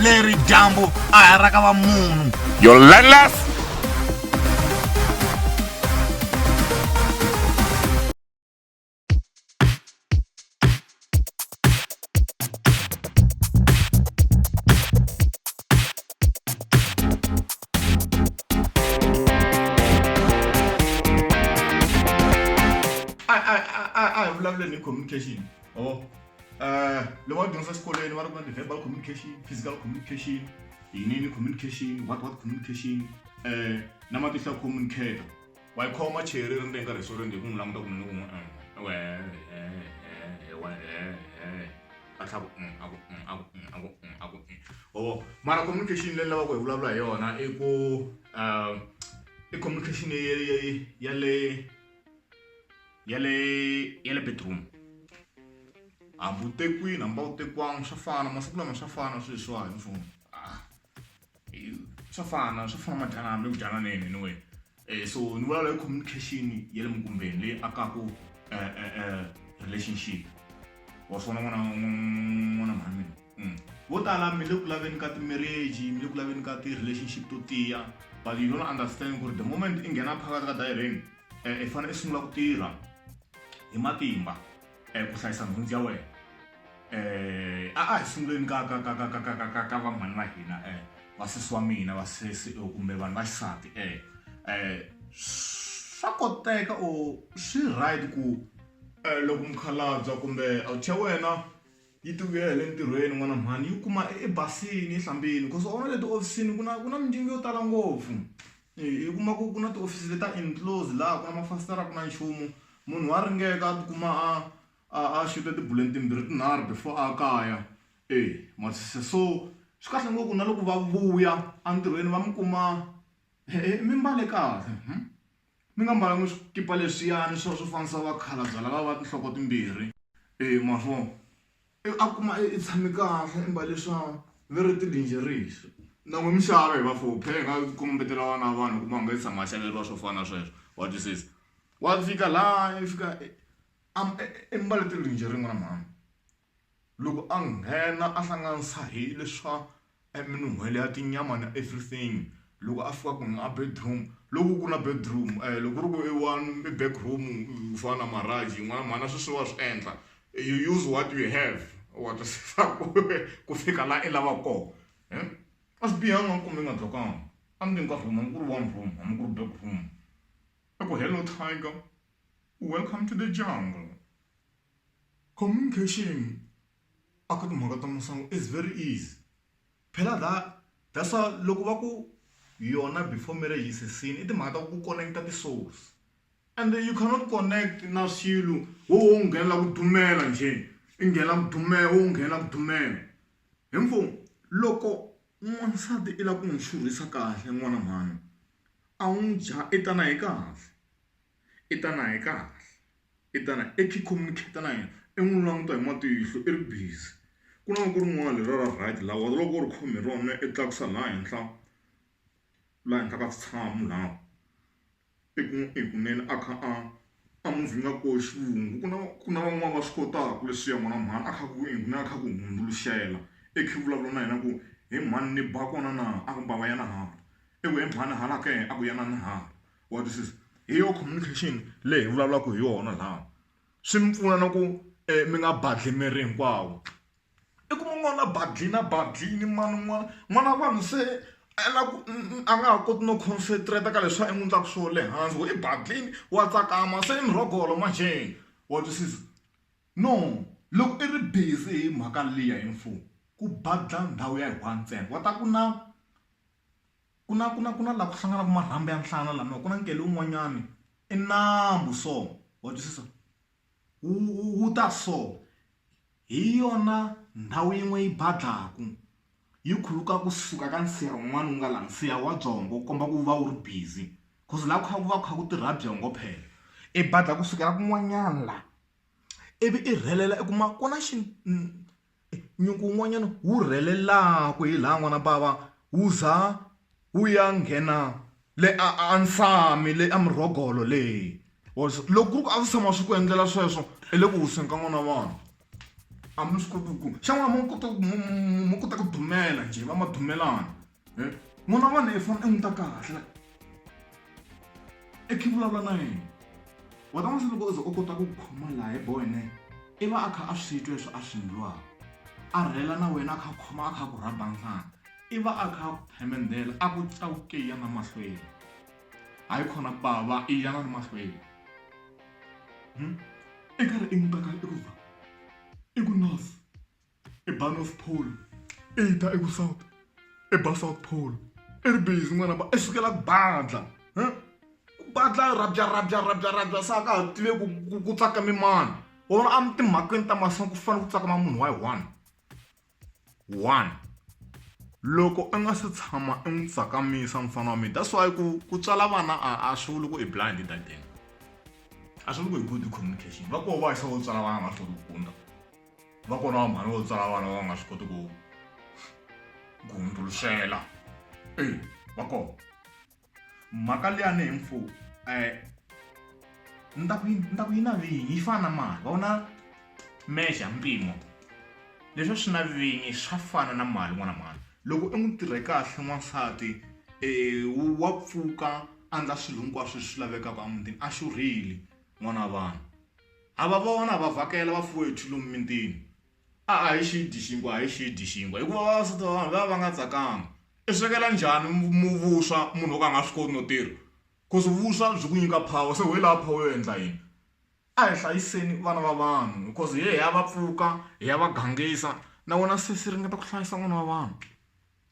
leri dyambu a ha ra ka va munhu your landless I, I, I, I, I love learning communication. or uh, eh, loko va dyondzisa xikolweni va ri ku na ti-verbal communication physical communication yinini communication what what communication um eh, na matihlo ya communicator wa yi khoma cheri ri ndenga riso ri ndi ku n'wi languta ku ni n'wi atlhaku aku aku aku aku o mara communication leyi lavaka hi vulavula hi yona i ku um i communication ya le ya le ya le bedroom hambi u te kwini hambi a wu tekiwanga swa fana masiku lama swa fana swilo leswiwani ni swo ah, swa fana swa fana madyana hambi ku dyana na yena anyway um so ni vulavula hi communication ya le mukumbeni leyi akaku um um um relationship wa swona n'wana n'wana mhani mina vo tala mi le ku laveni ka timarriage mi le ku laveni ka ti-relationship to tiya but you don't understand ku ri the moment i nghena phakathi ka dayireni um i fanele i sungula ku tirha hi matimba um ku hlayisa nhundzu ya wena um a a hi sunguleni ka ka ka ka ka ka ka ka ka vanghwani va hina um vasesi wa mina vasesi kumbe vanhu va xisati um um swa koteka or swi right ku um loko mukhalabya kumbe awuthi ya wena yi ti vuyela hi le ntirhweni n'wana mhani yi kuma i basini yi hlambini cause wa vona le tihofisini ku na ku na mindyangu yo tala ngopfu i kuma ku ku na tihofisi leti ta enclose laha ku na mafasitere a ku na nchumu munhu wa ringeka a tikuma a a a xuta tibuleni timbirhi tinharhu before a kaya e ma swi twisisa so swi kahle ngopfu ku na loko va vuya entirhweni va mi kuma mimbale kahle . Ni nga mbala ni swikipa leswiyani swa swo fana swa vakhalabya lava va tinhloko timbirhi e ma vo i a kuma i tshami kahle i mbale swa ve ri ti-lingeries na n'wi mi xava hi va four phela hi nga kumbetela vana va vanhu u kuma a nga se tshama a xaveriwa swo fana na sweswo wa twisisa wa fika laya i fika i i mbale ti-lingerie n'wana mhani. Loko a nghena a hlanganisa hi leswa eminun'hwela ya tinyama na everything loko a fika kunene a bedroom loko ku ri na bedroom loko ku ri ku i one i back room ku fana na Maharaj yin'wana mhani a swi swi wa swi endla you use what you have wa twisisa ku ku fika laha i lavaka kona a swi bihanga a ni kumbe i nga block-angi a ndzeni ka room hambi ku ri one room hambi ku ri back room i ku hello tiger welcome to the jungle. Communication a ka timhaka ta masangu is very easy phela la that's why loko va ku yona before marriage is a sin i timhaka ta ku connect-a ti-souls and you cannot connect na swilo wo wo nghenela ku dumela njhe i nghenela ku dumela wo nghenela ku dumela hi ngo loko n'wansati i lava ku n'wi xurhisa kahle n'wana mhani a n'wi dya i ta na hi kahle. i ta na hi kahle i ta na i communicate na yena i n'wi languta hi matihlo i ri busy ku na loko rin'wana leri ra right la wena loko u ri khome hi rona i tlakusa laha henhla laha henhla ka switshamo laha i ku i kunene a kha a a movie nga ko xivungu ku na ku na van'wani va swi kotaka leswiya mara mhani a kha ku i ku na a kha ku hundzuluxela i kha i vulavula na yena ku he mhani ni ba kona na a ku mbava yana hala i ku he mhani hala ke a ku yana na hala. wa twisisa hi yona communication leyi hi vulavulaka hi yona laha swi mi pfuna na ku mi nga badli miri hinkwawo i kuma n'wana badle na badle ni mani n'wana n'wana wa vanhu se a lava ku a nga ha koti no concentrate ka leswi a n'wi endlaka swona le hansi why badleni wa tsakama se i murhogolo manjhe wa twisisa no loko i ri busy hi mhaka liya hi mfumo ku badla ndhawu ya one ntsena wa ta ku na. ku na ku na ku na laha ku hlanganaka marhambu ya nhlana lama ku na nkele wun'wanyani i nambu so wa twisisa wu wu ta so hi yona ndhawu yin'we yi badlaku yi khuluka kusuka ka nsiha wun'wana wu nga laha nsiha wa byongo wu komba ku va wu ri busy cause laha ku kha ku va ku kha ku tirha byongo phela i badla kusukela kun'wanyana laha ivi i rhelela i kuma ku na xi . Nyuku wun'wana wu rhelelaka hi laha n'wana bava wu za wu ya nghena le a a nsami le a murhogolo le wa swi loko ku ri ku a swi tshama swi ku endlela sweswo i le ku wiseni ka n'wana wa vanhu a mi swi koti ku xana n'wana ma kota ku ma kota ku dumela njhe va ma dumelana. e n'wana wa wena i fana i n'wi ta kahle i khe vulavula na yena wa ta n'wi se loko u ze u kota ku khoma laha hi boyne i va a kha a swi twa leswi a swi ndlwaka a rhela na wena a kha a khoma a kha a ku rhaba nhlana i va a kha a ku phemendela a ku cawukeya na mahlweni hayi khona pava i yana ni mahlweni i karhi i n'wi teka i ku va i ku nurse i ba north pole i ta eku south i ba south pole i ri busy n'wana ba i sukela ku badla ku badla rabya rabya rabya rabya sa ka ha tive ku ku tsaka mi mani or a mi timhakweni ta masangu ku fanele ku tsakama munhu wa yi one one loko a nga se tshama i n'wi tsakamisa mufana wa mina that's why ku ku tswala vana a a swi vuli ku i blind that thing a swi vuli ku i good communication va koho va yisa vo tswala vana va hlori ku kunda Va kona vanhwana vo tsala vana va nga swi koti ku ku hundzuluxela e va kona mhaka liyani hi mfu um ni ta ku ni ta ku yi na vinyi yi fana na mali va vona measure mpimo leswi swi na vinyi swa fana na mali n'wana mhani loko u n'wi tirhe kahle n'wansati um wa pfuka a ndla swilo hinkwaswo leswi lavekaka emutini a xurhile n'wana wa vanhu. Ha va vona, ha va vhakela vafowethu lomu mitini. A a hi xi dyi xinkwa, a hi xi dyi xinkwa, hikuva vavasati va vanhu va va va nga tsakanga. I swekela njhani vuswa munhu wo ka a nga swi koti no tirha? Coz vuswa byi ku nyika power, se wehe lava power yo endla yini? A hi hlayiseni vana va vanhu because hi ya hi ya va pfuka, hi ya va gangisa, na vona se swi ringeta ku hlayisa n'wana wa vanhu.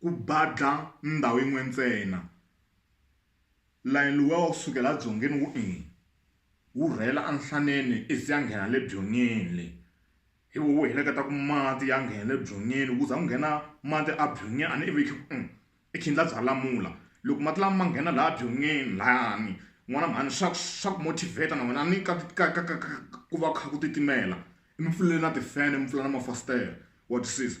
ku badla ndhawu yin'we ntsena layeni luwa wa kusukela a dzongeni wu eni wu rhela a nhlaneni i ze a nghena le byonyeni le hi wo wu heleketa ku mati ya nghena le byonyeni ku za ku nghena mati a byonyi a ni ivi i khindla bya lamula loko mati lama ma nghena laya byon'wini layani n'wana mhani swa ku swa ku motivate na wena a ni ka ka ka ka ka ku va kha ku titimela mi pfuleli na tifene mi pfula na mafasitere wa twisisa.